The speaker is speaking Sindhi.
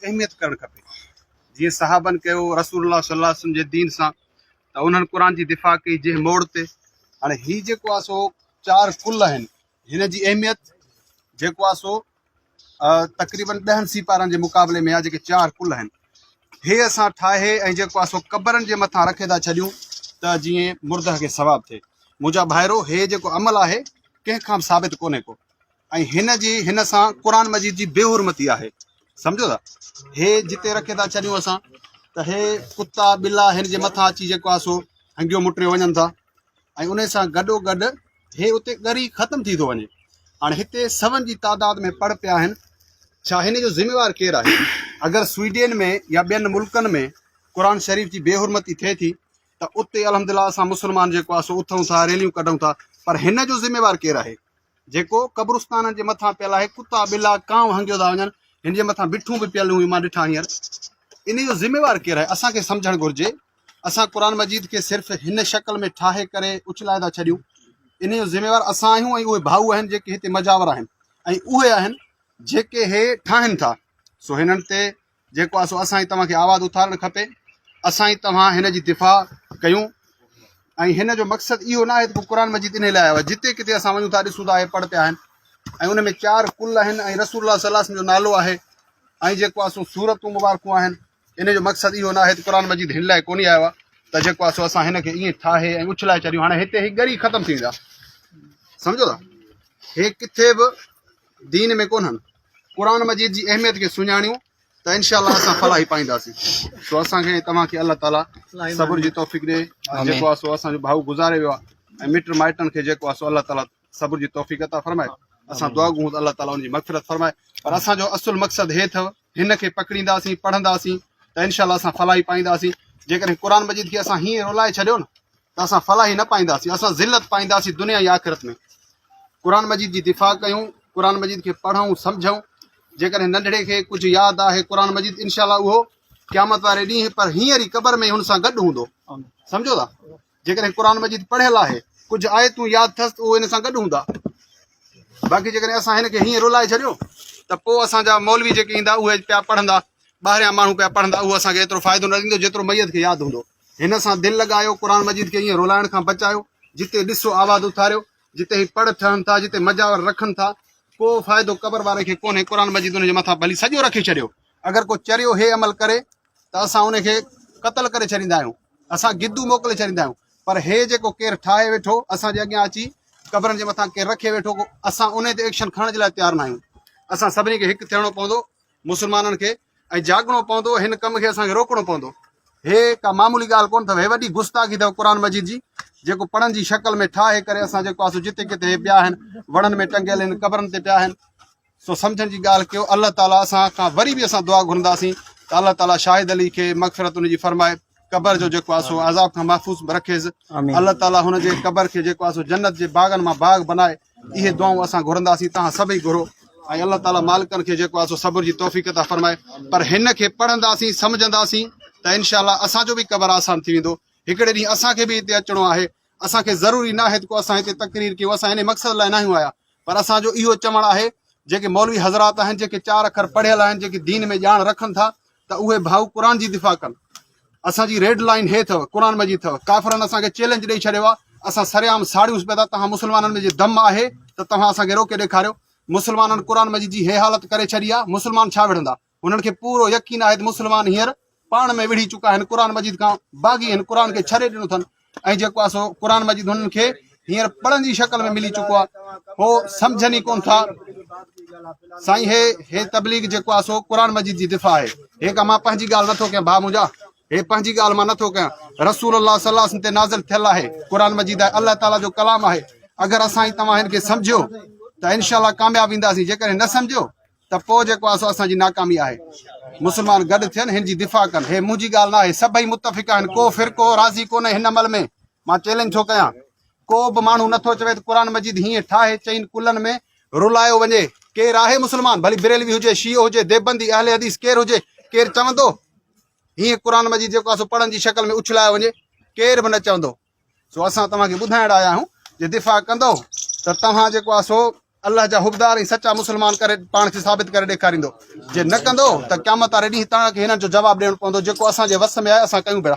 اهميت ڪرڻ کپي جيئن صحابن ڪيو رسول الله صلي الله عليه وسلم جي دين سان ته انهن قرآن جي دفاع ڪئي جنهن موڙ تي هاڻي هي جيڪو آهي سو چار ڪل آهن هن جي اهميت جيڪو آهي سو تقريبن ڏهن سيپارن جي مقابلي ۾ آهي جيڪي چار ڪل آهن هي اسان ٺاهي ۽ جيڪو آهي سو قبرن جي مٿان رکي ٿا ڇڏيون ته جيئن مرده کي ثواب ٿئي منهنجا ڀائرو هي جيڪو عمل آهي ڪنهن کان به ثابت ڪونهي ڪو ۽ هن جي هن سان قرآن مجيد جي بي حرمتي آهي سمجهو ٿا هي جتي رکي ٿا ڇڏيون اسان ته هي ڪتا ٻلا هن جي مٿان اچي جيڪو آسو هنگيو مٽريو وڃن ٿا ۽ ان سان گڏو گڏ هي اتي ڳري ختم ٿي ٿو وڃي هاڻي هتي سون جي تعداد ۾ پڙ پيا آهن ڇا هن جو ذميوار ڪير آهي اگر سوئيڊين ۾ يا ٻين ملڪن ۾ قرآن شريف جي بي حرمتي ٿئي ٿي ته اتي الحمدلله اسان مسلمان جيڪو آهي سو اٿئون ٿا ريليون ڪڍئون ٿا پر هن جو ذميوار ڪير آهي جيڪو قبرستانن جي مٿان پيل آهي ڪتا ٻلا ڪانء هنگيو ٿا وڃن هن جي مٿان بٺون به پيل هيون مان ڏٺا هينئر ان جو ذميوار ڪير آهي اسان کي سمجهڻ گهرجي اسان قرآن مجيد کي صرف هن شڪل ۾ ٺاهي ڪري اڇلائي ٿا ڇڏيون ان جو ذميوار اسان آهيون ۽ اهي ڀائو آهن جيڪي هتي مجاور آهن ۽ اهي آهن جيڪي هي ٺاهن ٿا سو هنن تي جيڪو آهي سو اسان ئي توهان کي آواز اٿارڻ کپي، اسان ئي توهان هن جي دفاع ڪيون ۽ هن جو مقصد اهو نه آهي ته قرآن مجيد انهي لاء آيو آهي جتي ڪٿي اسان وڃون ٿا ڏسون ٿا اهي پڙ پيا آهن ۽ ان ۾ چار ڪل آهن ۽ رسول الله صلي الله عليه وسلم جو نالو آهي ۽ جيڪو آهي سو سورتون مبارڪون آهن ان جو مقصد اهو نه آهي ته قرآن مجيد هن لاء ڪونهي آيو آهي ته جيڪو آهي سو اسان هن کي ائين ٺاهي ۽ اڇلائي چريون هاڻي هتي هي ڳري ختم ٿي ويندا سمجھو ٿا هي ڪٿي به دين ۾ ڪونهن قرآن مجيد جي اهميت کي سڃاڻيون ته انشاء الله اسان فلاحي پائينداسين سو اسان کي توهان کي الله تعاليٰ صبر جي توفيق ڏي جيڪو آسو اسان جو ڀائو گذاري ويو آهي مٽ مائٽن کي جيڪو آسو الله تعاليٰ صبر جي توفيق عطا فرمائي اسان دعا گهون ته الله تعاليٰ ان جي مغفرت فرمائي پر اسان جو اصل مقصد هي اٿو هن کي پڪڙينداسين پڙهنداسين ته انشاء الله اسان فلاحي پائينداسين جيڪڏهن قرآن مجيد کي اسان هيئن رولائي ڇڏيو نه ته اسان فلاحي نه پائينداسين، اسان ذلت پائينداسين دنيا ۽ آخرت ۾. قرآن مجيد جي دفاع ڪيون، قرآن مجيد کي پڙهون، سمجهون، جيڪڏهن ننڍڙي کي ڪجهه ياد آهي قرآن مجيد انشاء الله اهو قيامت واري ڏينهن پر هينئر ئي قبر ۾ هن سان گڏ هوندو. سمجهو ٿا؟ جيڪڏهن قرآن مجيد پڙهيل آهي، ڪجهه آيتون ياد اٿس ته اهو هن سان گڏ هوندا. باقي جيڪڏهن اسان هن کي هينئر رلائي ڇڏيو ته پوء اسان جا مولوي جيڪي ايندا اهي پيا پڙهندا، ٻاهريان ماڻهو پيا پڙهندا، اهو اسان کي ايترو فائدو نه ڏيندو جيترو ميت کي ياد هوندو. هن سان دل لڳايو، قرآن مجيد کي ائين رولائڻ کان بچايو، جتي ڏسو آواز اٿاريو، جتي هي پڙ ٺهن ٿا، جتي مجاور رکن ٿا، ڪو فائدو قبر واري کي ڪونهي، قرآن مجيد ان جي مٿان ڀلي سڄو رکي ڇڏيو، اگر ڪو چريو هي عمل ڪري ته اسان ان کي قتل ڪري ڇڏيندا آهيون، اسان گدو موڪلي ڇڏيندا آهيون، پر هي جيڪو ڪير ٺاهي ويٺو اسان جي اڳيان اچي قبرن جي مٿان ڪير رکي ويٺو اسان انهي تي ايڪشن کڻڻ جي لاء تيار ناهيون، اسان سڀني کي هڪ ٿيڻو پوندو، مسلمانن کي. ۽ جاڳڻو پوندو هن ڪم کي اسان کي روڪڻو پوندو هي ڪا معمولي ڳالهه ڪونه اٿو هي وڏي گستاخي اٿو قرآن مجيد جي جيڪو پڙن جي شڪل ۾ ٺاهي ڪري اسان جيڪو اسو جتي ڪتي هي پيا آهن وڻن ۾ ٽنگيل آهن قبرن تي پيا آهن سو سمجھن جي ڳالهه ڪيو الله تعاليٰ اسان کان وري به اسان دعا گھرنداسين ته الله تعاليٰ شاهد علي کي مغفرت ان جي فرمائي قبر جو جيڪو اسو عذاب کان محفوظ رکيس الله تعاليٰ هن جي قبر کي جيڪو اسو جنت جي باغن مان باغ بنائي اهي دعائون اسان گهرنداسين توهان سڀئي گهرو ۽ الله تعالي مالڪن کي جيڪو آهي سو صبر جي توفيق عطا فرمائي پر هن کي پڙهنداسين سمجهنداسين ته انشاء الله اسان جو به قبر آسان ٿي ويندو هڪڙي ڏينهن اسان کي به هتي اچڻو آهي اسان کي ضروري نه آهي ته کو اسان هتي تقرير ڪيون اسان ان مقصد لاء ناهيون آيا پر اسان جو اهو چوڻ آهي جيڪي مولوي حضرات آهن جيڪي چار اکر پڙهيل آهن جيڪي دين ۾ ڄاڻ رکن ٿا ته اهي ڀائو قرآن جي دفاع ڪن اسان جي ريڊ لائين هي اٿو قرآن مجيد اٿو ڪافرن اسان کي چيلينج ڏئي ڇڏيو آهي اسان سرعام ساڙيون پيا ٿا توهان مسلمانن ۾ جي دم آهي ته توهان اسان کي روڪي ڏيکاريو مسلمانن قرآن مجيد جي هي حالت ڪري ڇڏي آهي مسلمان ڇا وڙهندا هنن کي پورو يقين آهي ته مسلمان هينئر پاڻ ۾ وڙهي چڪا آهن قرآن مجيد کان باغي آهن قرآن کي ڇڏي ڏنو اٿن ۽ جيڪو آهي سو قرآن مجيد هنن کي هينئر پڙهن جي شڪل ۾ ملي چڪو آهي هو سمجهن ئي ڪون ٿا سائين هي هي تبليغ جيڪو آهي سو قرآن مجيد جي دفاع آهي هي مان پنهنجي ڳالهه نٿو ڪيان ڀاء منهنجا هي پنهنجي ڳالهه مان نٿو ڪيان رسول الله صلي الله علیه وسلم تي نازل ٿيل آهي قرآن مجيد آهي الله تعالیٰ جو ڪلام آهي اگر اسان ئي توهان هن کي سمجھيو ته انشاءالله ڪامياب وينداسين جيڪڏهن نه سمجھيو ته پوء جيڪو آهي سو اسان جي ناڪامي آهي. مسلمان گڏ ٿين هن جي دفاع ڪن. هي منهنجي ڳالهه ناهي، سڀئي متفق آهن، ڪو فرقو راضي ڪونهي هن عمل ۾. مان چئلينج ٿو ڪيان، ڪو به ماڻهو نٿو چوي ته قرآن مجيد هيئن ٺاهي چئن ڪلن ۾ رلايو وڃي. ڪير آهي مسلمان، ڀلي بريلوي هجي، شيعو هجي، ديبندي، اهل حديث ڪير هجي، ڪير چوندو هيئن قرآن مجيد جيڪو آهي سو پڙهن جي شڪل ۾ اڇلايو وڃي؟ ڪير به نه چوندو. سو اسان توهان کي ٻڌائڻ آيا آهيون جي دفاع ڪندؤ ته توهان جيڪو آهي سو الله جا حبدار ۽ سچا مسلمان ڪري پاڻ کي ثابت ڪري ڏيکاريندو جي نه ڪندؤ ته قيامت واري ڏينهن توهان کي هنن جو جواب ڏيڻو پوندو جيڪو اسان جي وس ۾ آهي اسان ڪيون پيا